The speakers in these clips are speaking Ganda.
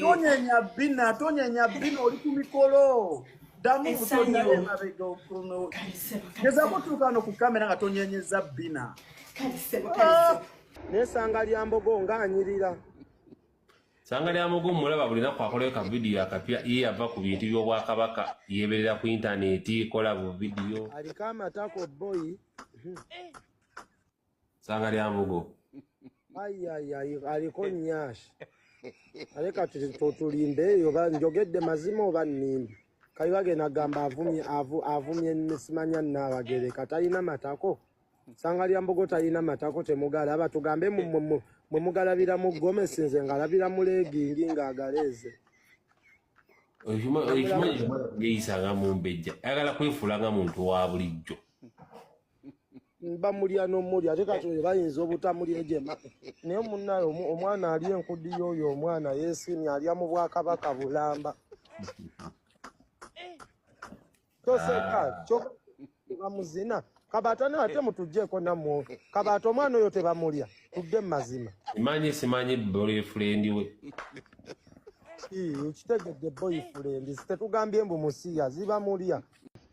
tonyenya bina tonyenya bina oli ku mikolo ddamu butonyaemabega okuno gezako tuukano ku kamera nga tonyenyeza bina ah! nesanga lyambogo nga anyirira sanga lyambogo mulaba buli naku akolayo ka vidiyo akapya ye yava ku bintu by'obwakabaka yeberera ku intaneti kola bu vidiyo aliko amatako boyi eh. sanga lya mbugo ayiayiayi aliko nyashi ale kati totulimbe eyo njogedde mazima oba nimbi kali bagenda gamba avumye avumye simanya nabagere katalina matako sanga lya mbugo talina matako temugala aba tugambe mwe mugalabira mu gomesi nze ngalabira mu legingi ngaagaleeze okimanyi yeyisanga mumbejja ayagala kwefuula nga muntu wa bulijjo bamulya nomulya ate kati oyo bayinza obutamulya ejema naye munaye omwana ali enkudi yoyo omwana yesimye alya mu bwakabaka bulamba toseka kyobamuzina kabaata naye ate mutujeko namwo kabaata omwana oyo tebamulya tudde mu mazima manyi simanyi boyfrendi we kitegedde boyfrendi tetugambye mbu musiya zibamulya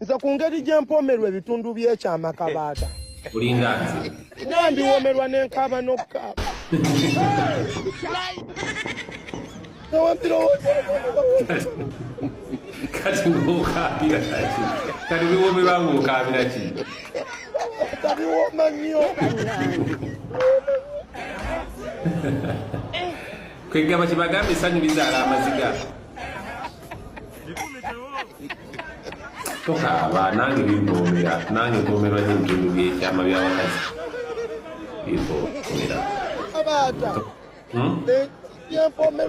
nze ku ngeri gye mpoomerwa ebitundu by'ekyama kabaata olinga nze naye ndiwoomerwa n'enkaaba n'okukaaba kati ng'okaabira kati kati biwoomerwa ng'okaabira ki tabiwooma nnyo kwegamba kye bagamba esanyu bizaala amaziga tokaaba nange bimboomera nange mpoomerwa nyo ebitundu byekyama byabakazi bimboomera hmm?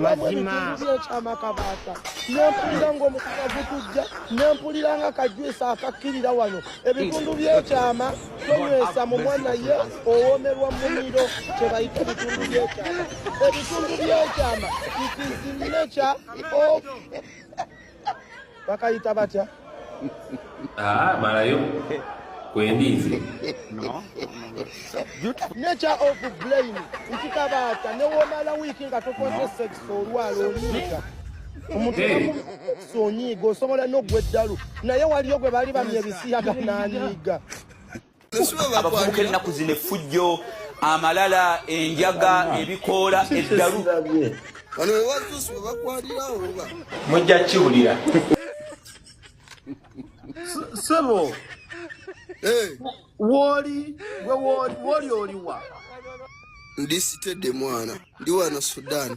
mazimaakyamakabaata nempulira ngaomukuka gutujja nempulira nga kajwisa akakkirira wano ebitundu byekyama tonywesa mu mwana ye owomerwa mumiro kyebayita ebitundu byekyama ebitundu byekyama ikizinekya bakayita batya ah, malayo kwendiizi nature of blame nkikabaata newomala wiiki nga tokoze sex olwala oliika omuntu sonyiiga osobola nogwa eddalu naye waliyo gwe bali bamya ebisiyaga nanyiiga abavubuka ennaku zino effujjo amalala enjaga ebikoola eddalu mujja kiwulira sebo woli woli oliwa ndisitedde mwana ndi wano sudan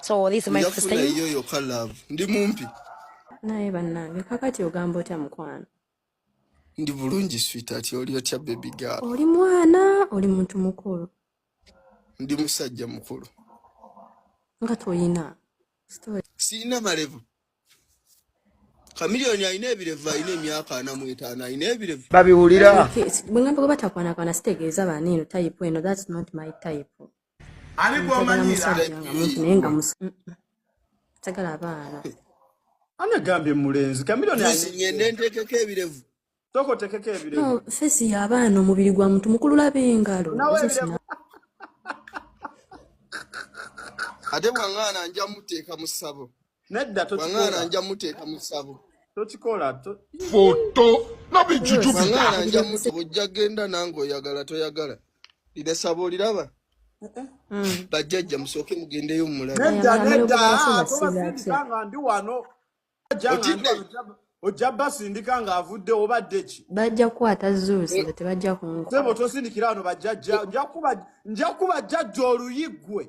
so this is my first time yo yo ka love ndi mumpi naye banange kakati ogamba otya mukwano ndi bulungi sweetheart oli otya baby girl oli mwana oli muntu mukulu ndi musajja mukulu nga toyina sirina malevu kamiliyoni alina ebirevu alina emyaka ana mu etaano alina ebirevu babiwulira bwengamba gwe batakwanakwana sitegeeza baaniino tayipu eno thats not my type ani gwomanyiira sagala abaana anagambye mulenzi kamilonngende ntekeko ebirevu toko tekeko ebirevu fesi yabaana omubiri gwa muntu mukulu laba engalo ate bwangana nja muteeka mu ssabo Nedda tokikola. Wang'ana nja muteeka mu ssabo. Tokikola. Foto. Nabi juju bi. Wang'ana nja muteeka. Ojja genda nange oyagala toyagala. Lida sabo oliraba. Mm. Bajjajja musooke mugendeyo mumulabe. Nedda nedda. Ah, toba sindika nga ndi wano. Otidde. ojja basindika ng'avudde obadde ki bajja kukwata zuusi nga tebajja kunkusebo tosindikira ano bajjajja nja kuba jjajja oluyiggwe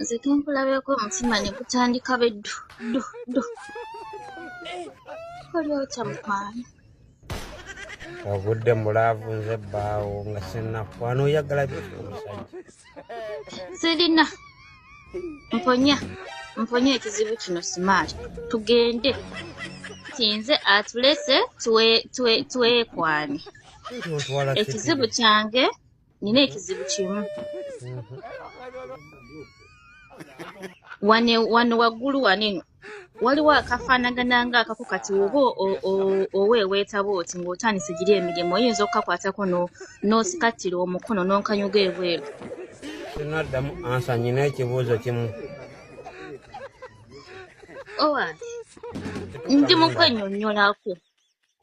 nze tunkulabyeko omutima ne gutandika be ddu ddu ddu oli otya mukwano ogudde mulaavu nze bbaawo nga sinakwana oyagala byoki omusajja sirina mponya mponya ekizibu kino simaali tugende tinze atulese twekwane ekizibu kyange nina ekizibu kimu wano waggulu waneno waliwo akafaanagana nga akako kati oba oweeweetaba oti ng'otandise giri emirimu oyinza okukakwatako n'osikattira omukono n'onkanyuga ebweru sinaddamu ansa nyina ekibuuzo kimu owa ndi mukwenyonyolako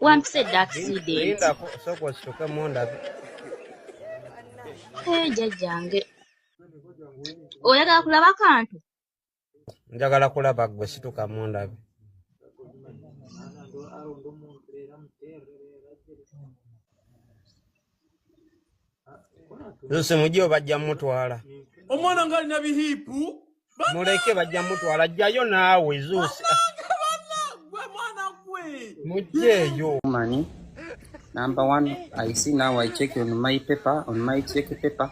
wampisa edda akisidenti eh, jajjange oyagala kulaba kantu njagala kulaba gwe situka mundabe Nse mujio bajja mutwala. Omwana ngali na bihipu. Muleke bajja mutwala jayo nawe zusi. Mujieyo. Mani. Number one, I see now I check on my paper, on my check paper.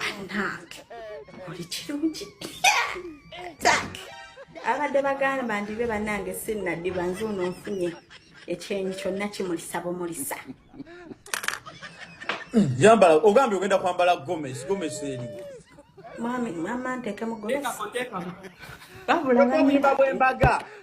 banange oli kirungi abadde bagamba ndibe banange sinnadiba nze ono nfunye ekyenyi kyonna kimulisa bumulisa hmm, yambala ogambye ogenda kwambala gomesi gomesi eri mwami mwama ntekemu gomesi babula banyina bwembaga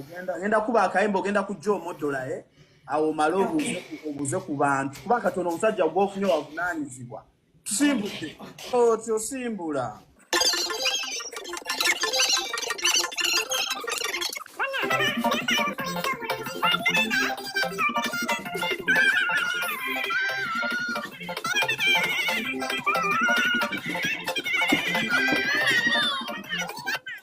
ogenda ngenda kuba akayimba ogenda kujja omodola e eh? awo omale obuze ku bantu kuba katonda omusajja gwofunye wavunaanyizibwa tusimbudde oti osimbula